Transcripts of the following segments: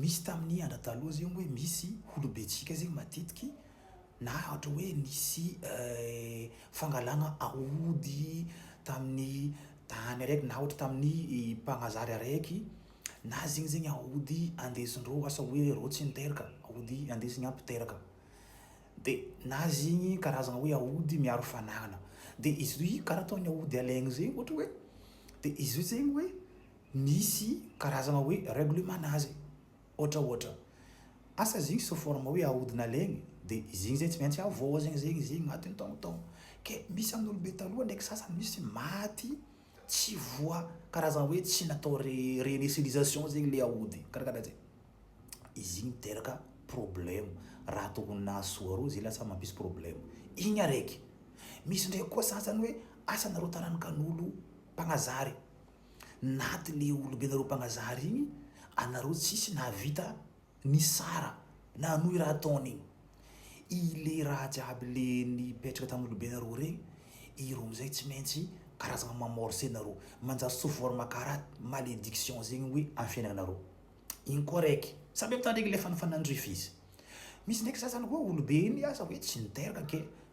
Misy tamin'ny andra taloha zegny hoe misy holobentsika zegny matetiky na ohatra hoe nisy fangalagna aody tamin'ny tany araiky na ohatra tamin'ny Mpagnazary araiky na zegny zegny aody andesindreo asa hoe reo tsy niteraka, aody andesigny an mpiteraka. De na zegny karazagna hoe aody miaro fanagna. De izy karaha ataon'ny aody alaigny zegny ohatra hoe de izy io zegny hoe Misy karazana hoe règlement-na azy ohatra ohatra asa zigny sous forme hoe ahodina legny de zigny zay tsy maintsy havoazigny zegny zigny agnaty ny taogno taogno ke misy amy olo be taloha ndraiky sasany misy maty tsy voa karazana hoe tsy natao re renesilisation zegny le aody kara kara zay izigny miteraka problème raha tokony nahasoa reo zay lasa mampisy problème igny araiky misy ndraiky koa sasany hoe asa nareo tarankanolo mpagnazary Naty le olombenareo mpanazary igny anareo tsisy nahavita nisara na hanohy raha ataony igny i le raha jiaby le nipetraka tam olobenareo regny ireo amizay tsy maintsy karazagna mamorce nareo manjary sous forme kara malediction zegny hoe am fiainanareo igny koa raiky sa mety tandregny le fanafanandrifa izy misy ndraiky za zany hoe olobe igny asa hoe tsy niteraka ke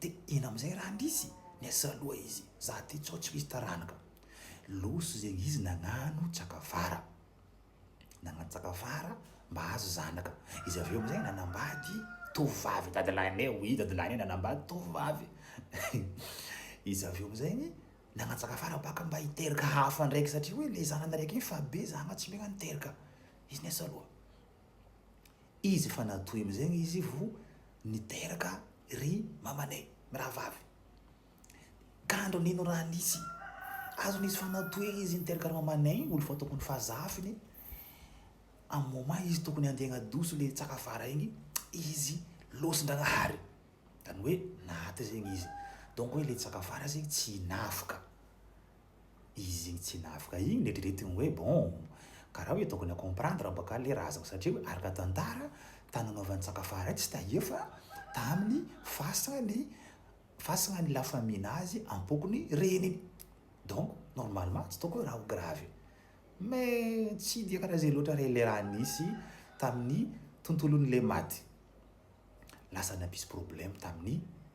De iny amizay ra ndrisy niasa loha izy za ty tsao tsy misy taranaka loso zegny izy nagnano tsakavara nagnano tsakavara mba hahazo zanaka izy avy eo amizay nanambady tovovavy dadilahinay oui dadilahinay nanambady tovovavy izy avy eo amizegny nagnano tsakavara baka mba hiteraka hafa ndraiky satria hoe le zanany raiky igny fa be zagna tsy megna niteraka izy niasa loha Izy efa natoy amizegny izy vo niteraka ry mamanay mirahavavy ka andro nino raha nisy azony izy fa natoy izy niteraka ry mamanay olo fa tokony fa zafiny am moment izy tokony handeha hagnadoso le tsaka avara igny izy losin-dragnahary zany hoe naty zegny izy donc hoe le tsaka avara zegny tsy navoka izy tsy navoka igny neritreretiny hoe bon ka raha hoe tokony comprendre baka le razako satria hoe araka tantara tany nanaovany tsakafara tsy tahefa taminy fasana ny fasana ny la famille nazy ampokony reniny donc normalement tsy tokony raha ho grave mais tsy dia karaha zay loatra re le raha nisy taminy tontolony le maty lasa nampisy problème taminy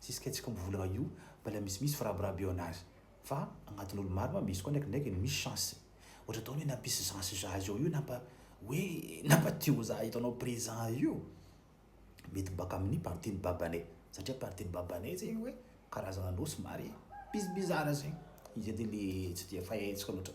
Tsisy kay tsikombo volagna io mbala misimisy firabiraby eo anazy fa agnatin olo maro ma misy koa ndraikindraiky no misy chance ohatra ataony hoe nampisy chance za zao io nampa hoe nampa tio za hitanao present io mety baka aminy partie ny babanay satria partie ny babanay zegny hoe karazagna anao somary bizibizara zegny izy de le tsy de fahentsika loatra.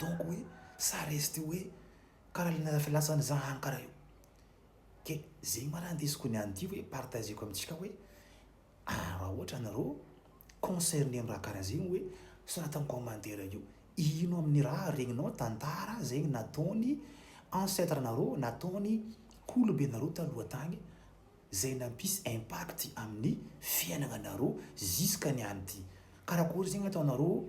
donc hoe ça reste hoe kara le nalatsaka latsaka za any kara io ke zegny ma ra ndesiko ny an'ity hoe partageko amintsika hoe ah ra ohatra anareo concerné am ra kara zegny hoe sorata am commentaire akeo ino aminy ra regninao tantara zegny nataony ancetre nareo nataony kolobe nareo taloha tagny zay nampisy impact aminy fiainagna nareo ziskany an'ity karakory zegny ataonareo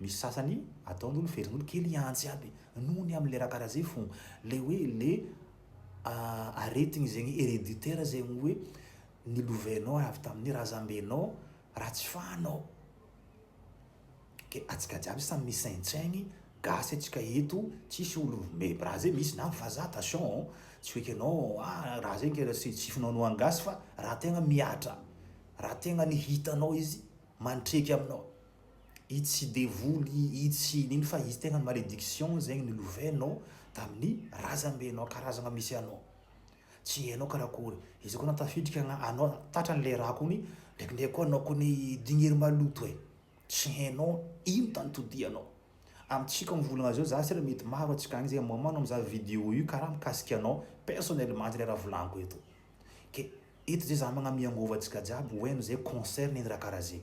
Misy sasany ataon'olo verin'olo kely iantsy aby noho ny amle raha karaha zay fô le hoe le aretigny zegny hereditaire zegny hoe nilovainao avy tamin'ny razambenao raha tsy fahanao. Ke atsika jiaby samy misaintsaigny gasy atsika eto tsisy olo mib raha zay misy na vazaha attention ô tsy hoe ke anao ah raha zay ke tsy tsy finoanoan'ny gasy fa raha tegna mihatra raha tegna ny hitanao izy mantreky aminao itsy devoly itsy nino fa izy tegna malediction zegny nolovenao tamin'ny razambenao karazagna misy anao tsy hainao karakory izy koa anao tafiditra agna- anao tatrany le raha kony ndraikindraiky koa anao kony digniry maloto e tsy hainao ino tany todianao amintsika mivolagna zao za sera mety maro antsika agny zay moment anao mizaha video io karaha mikasika anao personnellement antsy le raha volaniko eto ke eto zay za magname angovo antsika jiaby ho hainy zay concerne ny raha karaha zegny.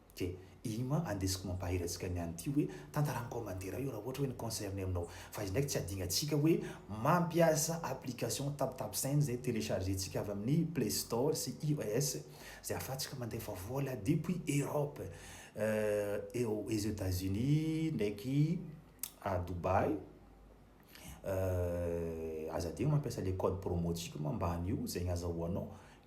Ke, iny ma andesiko mampahery antsika ny an'ity hoe tantara en commentaire io raha ohatra hoe ny concerne aminao. Fa izy ndraiky tsy adingantsika hoe mampiasa application TapTapSend izay telechargentsika avy amin'ny play store sy ios izay ahafahantsika mandefa vola depuis Europe aux Etats Unis ndraiky à Dubaï aza adino mampiasa le code promo-tsika moa mba an'io zegny azahoanao